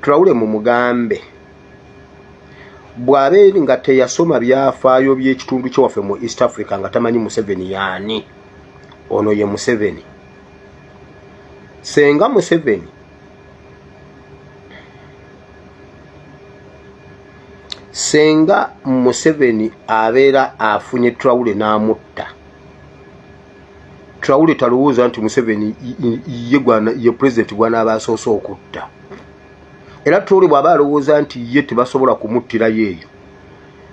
Traore mumugambe bw'aba eri nga teyasoma byafaayo by'ekitundu kye waffe mu East Africa nga tamanyi Museveni yaani ono ye Museveni senga Museveni senga Museveni abeera afunye Traore n'amutta Traore talowooza nti Museveni ye gwana ye president gwana abasoose okutta. Era Traore bwaba alowooza nti ye tebasobola kumuttira yeeyo.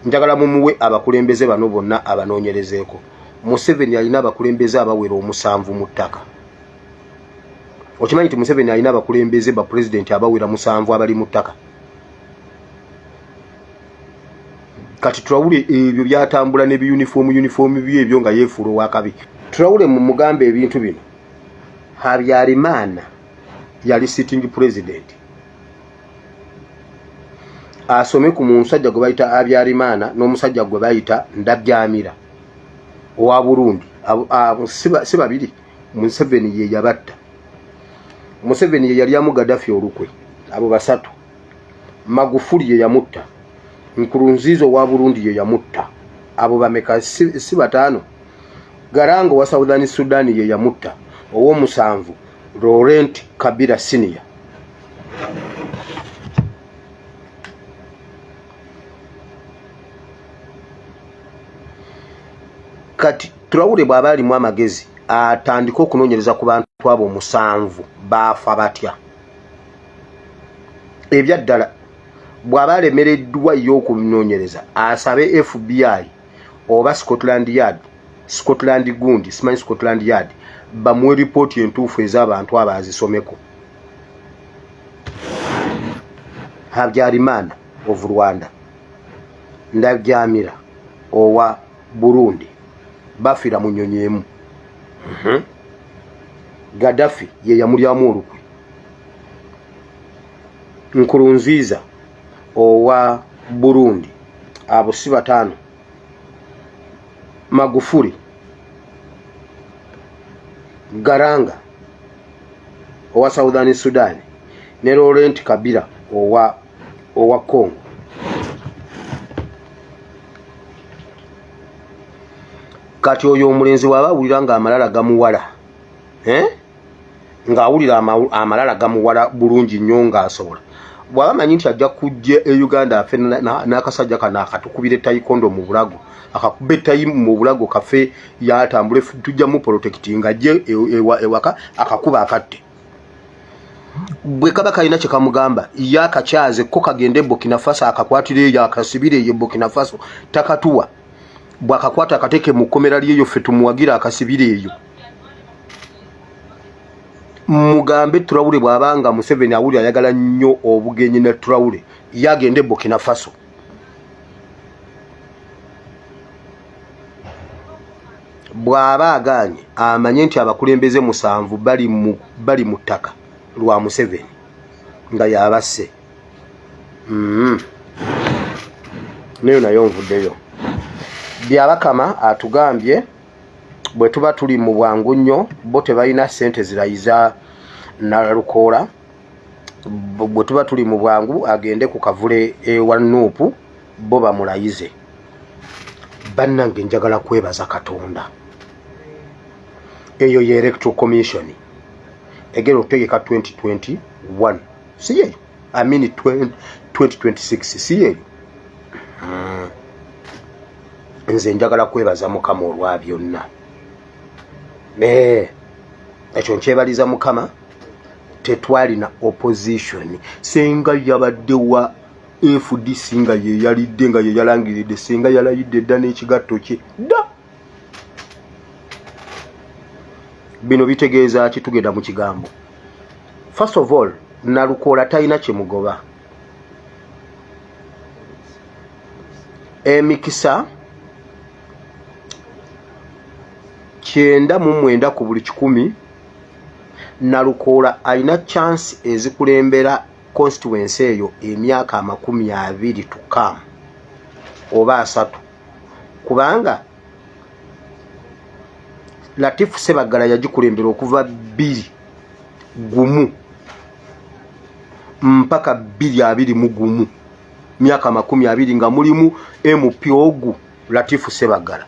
Njagala mumuwe abakulembeze bano bonna abanoonyerezeeko. Museveni alina abakulembeze abawera omusanvu mu ttaka. Okimanyi nti Museveni alina abakulembeze ba president abawera musanvu abali mu ttaka. kati turawule ebyo byatambula ne uniform uniform bye ebyo nga yefuula owakabi turawule mu mugambe ebintu bino habyarimana yali sitting president asome ku musajja gwe bayita habyarimana n'omusajja gwe bayita ndabyamira owa burundi si babiri museveni ye yabatta museveni ye yalyamu gadafi olukwe abo basatu magufuli yeyamutta nkurunziza owa burundi yeyamutta abo bameka si bataano garanga owa southern sudan yeyamutta owomusanvu laurent kabira senior kati turawule bwaba alimu amagezi atandike okunonyereza ku bantu abo omusanvu baafa batya ebyaddala bw'aba alemereddwa ye okunoonyereza asabe fbi oba scotland yard scotland gundi simanyi scotland yard bamuwe lipooti entuufu ez'abantu abo azisomeko habyarimana of rwanda ndajamira owa Burundi bafira mu nyonyi emu mhm. Gaddafi ye yamulyamu olukwe Nkurunziza owa Burundi abo si bataano Magufuli Garanga owa Southern Sudan ne Laurent Kabila owa owa Congo kati oyo omulenzi waba awulira nga amalala gamuwala eh? nga awulira amalala gamuwala bulungi nnyo nga asobola bwaba manyi nti ajja kujja e uganda afe n'akasajja kano akatukubira etayikondo mu bulago akakuba etayi mu bulago kafe yatambule tujja mupolotekitinga ajje e, e, ewaka akakuba akatte bwe kaba kalina kye kamugamba ye akakyaze ko kagende burkina faso akakwatira eyo akasibire eyo burkina faso takatuwa bwakakwata akateeke mu kkomera lyeyo ffe tumuwagire akasibire eyo mugambe turawule bw'aba nga museveni awuli ayagala nnyo obugenyi ne turawule ye agende burkina faso bw'aba agaanye amanye nti abakulembeze musanvu bali mu ttaka lwa museveni nga yabasse mm-hmm. nayo nayo nvuddeyo byabakama atugambye bwe tuba tuli mu bwangu nnyo bo tebalina ssente zirayiza nalukoola bwe tuba tuli mu bwangu agende ku kavule ewa nuupu bo bamulayize bannange njagala kwebaza katonda eyo ye electoral commission egenda okutegeka 2021 si yeyo amini 2026 si yeyo hmm. nze njagala kwebaza mukama olwa byonna eh, ekyo nkyebaliza mukama tetwalina opposition senga yabaddewa fdc nga yeyalidde nga yeyalangiridde senga yalayidde dda n'ekigatto kye dda bino bitegeeza ki tugenda mu kigambo first of all nalukoola talina kyemugoba emikisa kyenda mu mwenda ku buli kikumi nalukoola alina chansi ezikulembera constituency eyo emyaka amakumi abiri tukam oba asatu kubanga latifu sebaggala yagikulembera okuva bbiri gumu mpaka bbiri abiri mu gumu myaka makumi abiri nga mulimu mp ogu latifu sebaggala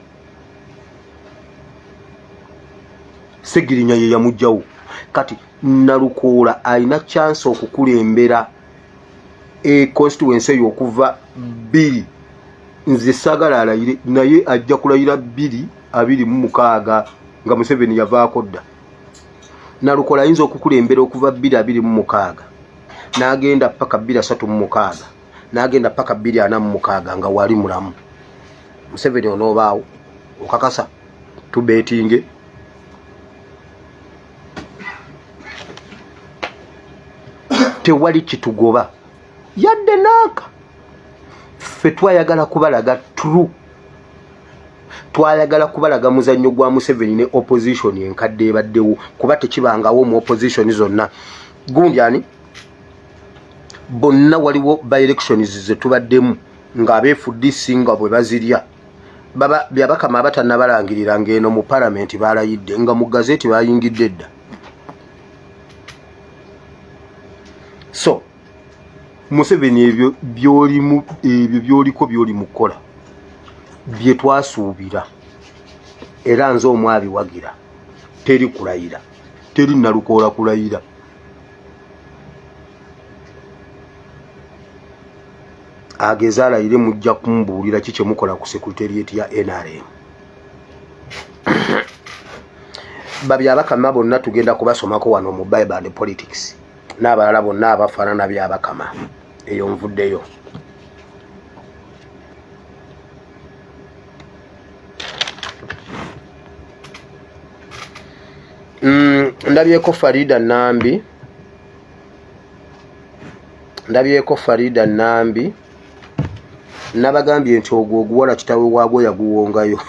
segirinya ye yamugjawo kati Nalukoola alina chance okukulembera e constituency eyo okuva bbiri nze sagala alayire naye ajja kulayira bbiri abiri mu mukaaga nga museveni yavaako dda nalukoola ayinza okukulembera okuva bbiri abiri mu mukaaga n'agenda paka bbiri asatu mu mukaaga n'agenda paka bbiri ana mu mukaaga nga wali mulamu museveni onoobaawo okakasa tubeetinge tewali kitugoba yadde naaka ffe twayagala kubalaga tru twayagala kubalaga muzannyo gwa museveni ne opposition enkadde ebaddewo kuba tekibangawo mu opposition zonna gundi ani bonna waliwo by elections zetubaddemu ng'abeefudde singa bwe bazirya byabakama abatannabalangirira ng'eno mu palamenti baalayidde nga mu gazeti bayingidde edda so museveni ebyo byolimu ebyo byoliko byoli mu kukola bye twasuubira era nze omwabiwagira teri kulayira teri nalukoola kulayira ageze alayire mujja kumbuulira ki kyemukola ku secretariat ya nrm babyabakama bonna tugenda kubasomako wano mu bible and politics n'abalala bonna abafaanana byabakama eyo nvuddeyo Mm, ndabyeko farida nambi ndabyeko farida nambi nabagambye nti ogwo oguwala kitawe waagwo yaguwongayo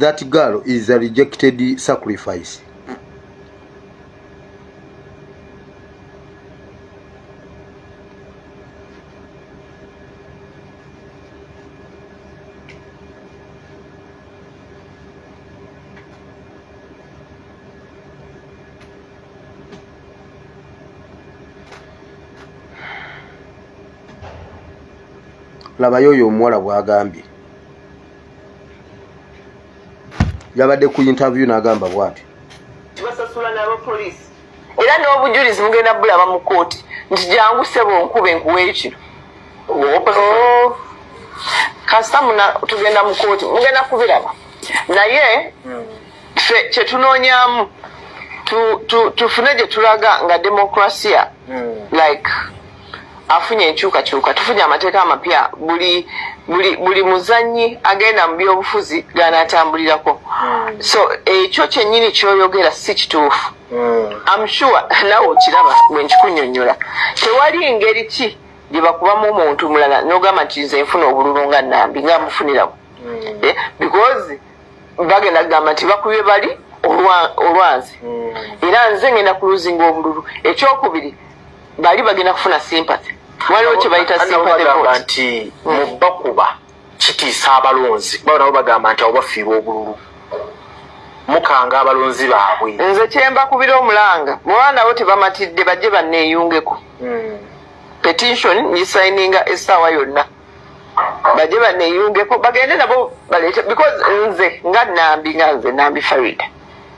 that girl is a rejected sacrifice labayo oyo omuwala bwagambye yabadde ku interview nagamba bwati tibasasula nabapolisi era n'obujulizi mugenda bulaba mu kooti nti jangu sebo nkube nkuwa ekino oh. kasita muna tugenda mu kooti mugenda kubiraba naye fe kyetunoonyamu tufune gye tulaga nga demokrasia hmm. like afunye enkyukakyuka tufunye amateeka amapya buli buli buli muzanyi agenda mu byobufuzi ganatambulirako hmm. so ekyo kyenyini kyoyogera si kituufu hmm. am sure nawe okiraba bwe nkikunyonyola tewali ngeri ki gyebakubamu omuntu mulala nogamba nti nze nfuna obululu nga nambi nga mufunirawo hmm. eh, because bagenda kugamba nti bakubye bali olwanzi era nze ngenda kuluzinga obululu ekyokubiri bali bagenda kufuna sympathy waliwo kyebayita sympathy vote nti hmm. mubakuba kitiisa abalonzi kuba nabo bagamba nti abo bafiirwa obululu mukanga abalonzi baabwe nze kyembakubira omulanga bwaba nabo tebamatidde bajje banneeyungeko hmm. petition ngisayininga essaawa yonna bajje banneeyungeko bagende nabo baleete because nze nga nambi nga nze nambi farida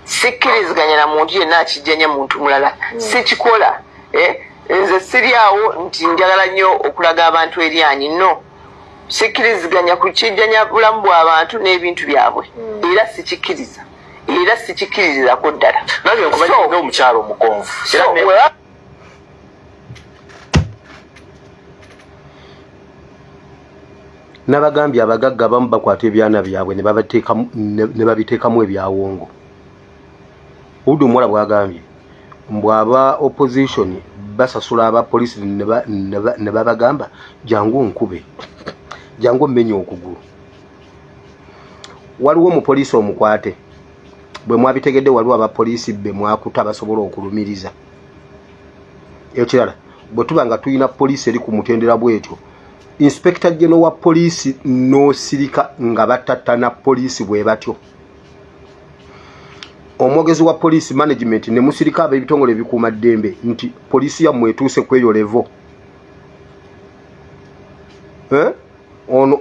sikkiriziganya na muntu yenna akijjanya muntu mulala hmm. sikikola eh, nze siri awo nti njagala nnyo okulaga abantu eryanyi no sikkiriziganya ku kijjanya bulamu bw'abantu n'ebintu byabwe hmm. era sikikkiriza era sikikkiririzako ddala nange nkumanyi nga omukyalo omugonvu nabagambye abagagga abamu bakwata ebyana byabwe ne babiteekamu ebyawongo udu muwala bwagambye mbu aba opposition basasula aba polisi ne babagamba jangu onkube jangu omenye okugulu waliwo omupoliisi omukwate bwe mwabitegedde waliwo aba poliisi be mwakuta basobola okulumiriza ekirala bwe tuba nga tulina poliisi eri ku mutendera bwetyo inspekita geno wa poliisi n'osirika nga batattana poliisi bwe batyo omwogezi wa poliisi management ne musirika ab'ebitongole ebikuuma ddembe nti poliisi yammwe etuuse kweyo levo eh? ono